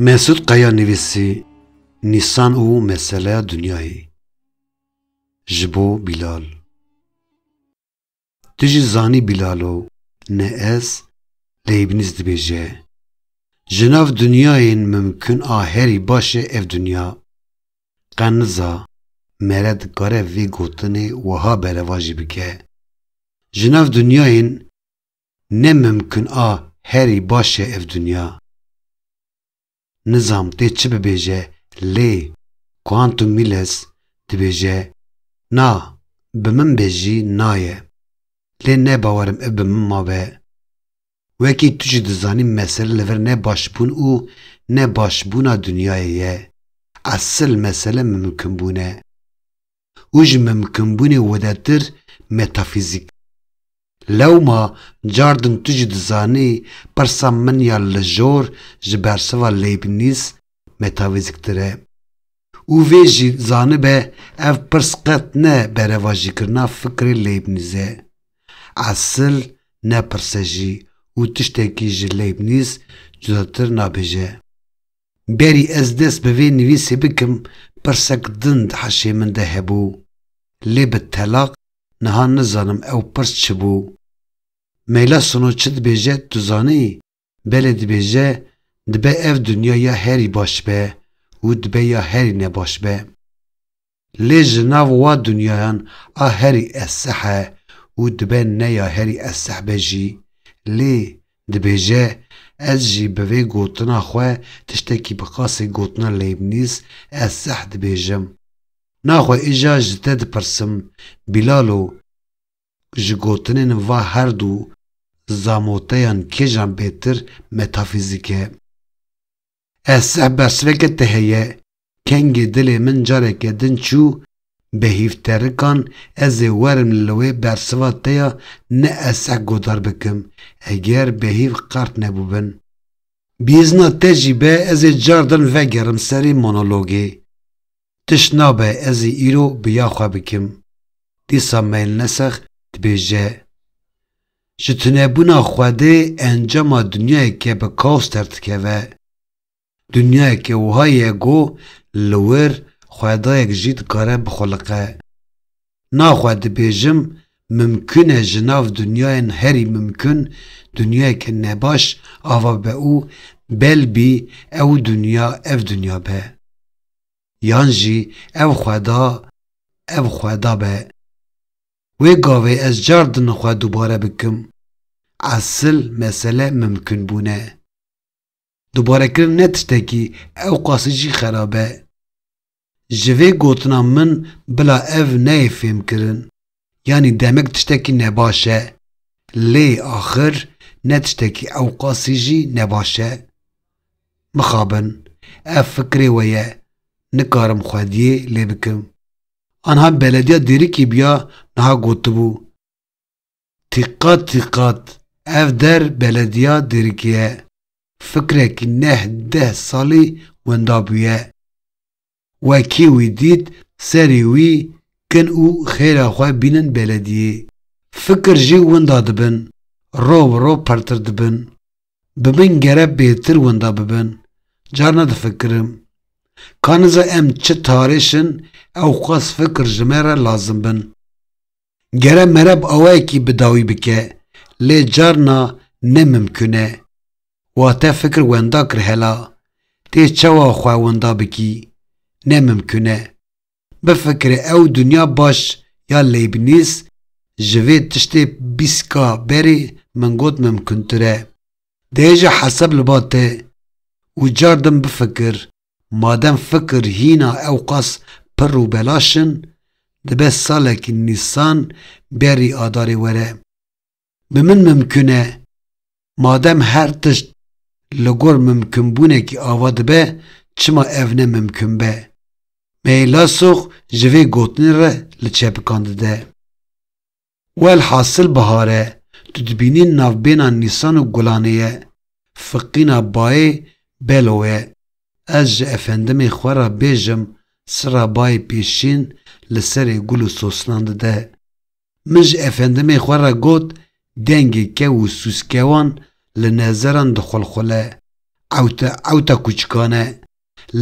Mesûd Qaya nivîsî Nîsan û meseleya dinyayê ji bo Bîlal Tu jî zanî Bîlalo ne ez Leybnîz dibêje Ji nav dinyayên mimkun a herî baş e ev dinya Qeniza mere dikare vê gotinê wiha berevajî bike, Ji nav dinyayên ne mimkin a herî baş e ev dinya. Nizam tê çi bibêje lê Quantum Miles dibêje na bi min be jî naye. Lê ne bawerim ev bi min mabe. Wekî tu jî dizanî mesele li vir ne başbûn û ne başbûna dinyayê ye. Esil mesele mimkinbûn e. Û ji mimkinbûnê widetir metafîzîk. Lewma car din tu jî dizanî pirsa min ya lijor ji bersiva Leibniz metafîzîktir e. Û vê jî zanibe ev pirs qet ne berevajîkirina fikrê Leybnîz e. Esil ne pirs e jî û tiştekî ji Leybnîz cudatir nabêje. Berî ez dest bi vê nivîsê bikim pirsek din di heşê min de hebû. Lê bi telaq niha nizanim ew pirs çi bû. Meyla Sino çi dibêje tu zanî? Belê dibêje, dibe ev dinya ya herî baş be û dibe ya herî ne baş be. Lê ji nav wa dinyayan a herî eseh e û dibe ne ya herî eseh be jî, lê dibêje, ez jî bi vê gotina xwe tiştekî bi qasê gotina Leibniz eseh dibêjim. Naxwe îja ji te dipirsim, Bîlalo, Ji gotinên va her du zamoteyan kêjan bêtir metafîzîk e? Ez seh bersiveke te heye, kengê dilê min careke din çû be hîvterikan ez ê werim li wê bersiva te ya ne ez seh godar bikim eger be hîv qert nebûbin. Bi îzna te jî be ez ê cardan vegerim serê monologê. Tişt nabe ez ê îro bi ya xwe bikim. Dîsa Meylnesex dibêje, Ji tunebûna Xwedê encama dinyayeke bi kaos derdikeve. Dinyayeke wiha ye ku li wir Xwedayek jî dikare bixwiliqe. Na xwe dibêjim, mimkun e ji nav dinyayên herî mimkun dinyayeke nebaş ava be û belbî ew dinya ev dinya be. Yan jî ev xweda ev xweda be. Wê gavê ez car din xwe dubare bikim. Esil mesele mimkunbûn e. Dubarekirin ne tiştekî ew qasî jî xerab e. Ji vê gotina min bila ev neyê fêmkirin. Yanî demek tiştekî nebaş e. Lê axir ne tiştekî ew qasî jî nebaş e. Mixabin. Ev fikirê we ye. Nikarim xwediyê lê bikim. Anha belediya dêrikî biya niha gotibû. Tiqat tiqat ev der belediya dirikiye. Fikrekî neh deh salî winda bûye. We kî wî dît serî wî kin û xêra xwe bînin belediyê. Fikir jî winda dibin. Rov bi rov pirtir dibin. Bi min gere bêtir winda bibin. Carna difikirim. Ka niza em çi tarêş in ewqas fikir ji me re lazim bin. Gere mereb awayekî bi dawî bike, lê carna ne mimkun e. Wate fikir wenda kir hela, tê çawa xwe wenda bikî? Ne mimkun e. Bifikire ew dinya baş ya Leibniz ji vê tiştê bîst ka berê min got mimkuntir e. Dê ji hesab li ba te û cardim bifikir Madem fikir hîna ewqas pirr û belaş in, dibe salekî Nîsan berî Adarê were. Bi min mimkun e, madem her tişt li gor mimkunbûnekî ava dibe, çima ev ne mimkun be? Me yê Lasox ji vê gotinê re li çepikan dide. Welhasil bihar e, tu dibînî navbêna Nîsan û Gulanê ye, fiqîna bayê Belo ye. Ez ji efendimê xwe re bêjim sira bayê pêşîn li serê gul û sosnan dide. Min ji efendimê xwe re got dengê kew û sûskewan li nezeran dixulxule, ewte ewta kûçikan e.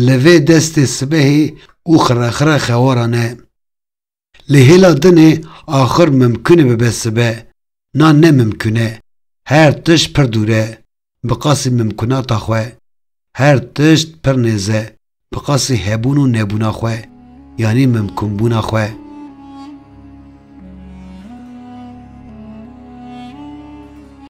Li vê destê sibehê û xirexire xewaran e. Lê hêla din e axir mimkun e bibe sibe, na ne mimkun e. Her tişt pir dûr e, bi qasî mimkunata xwe. Her tişt pir nêz e, bi qasî hebûn û nebûna xwe, yanî mimkunbûna xwe.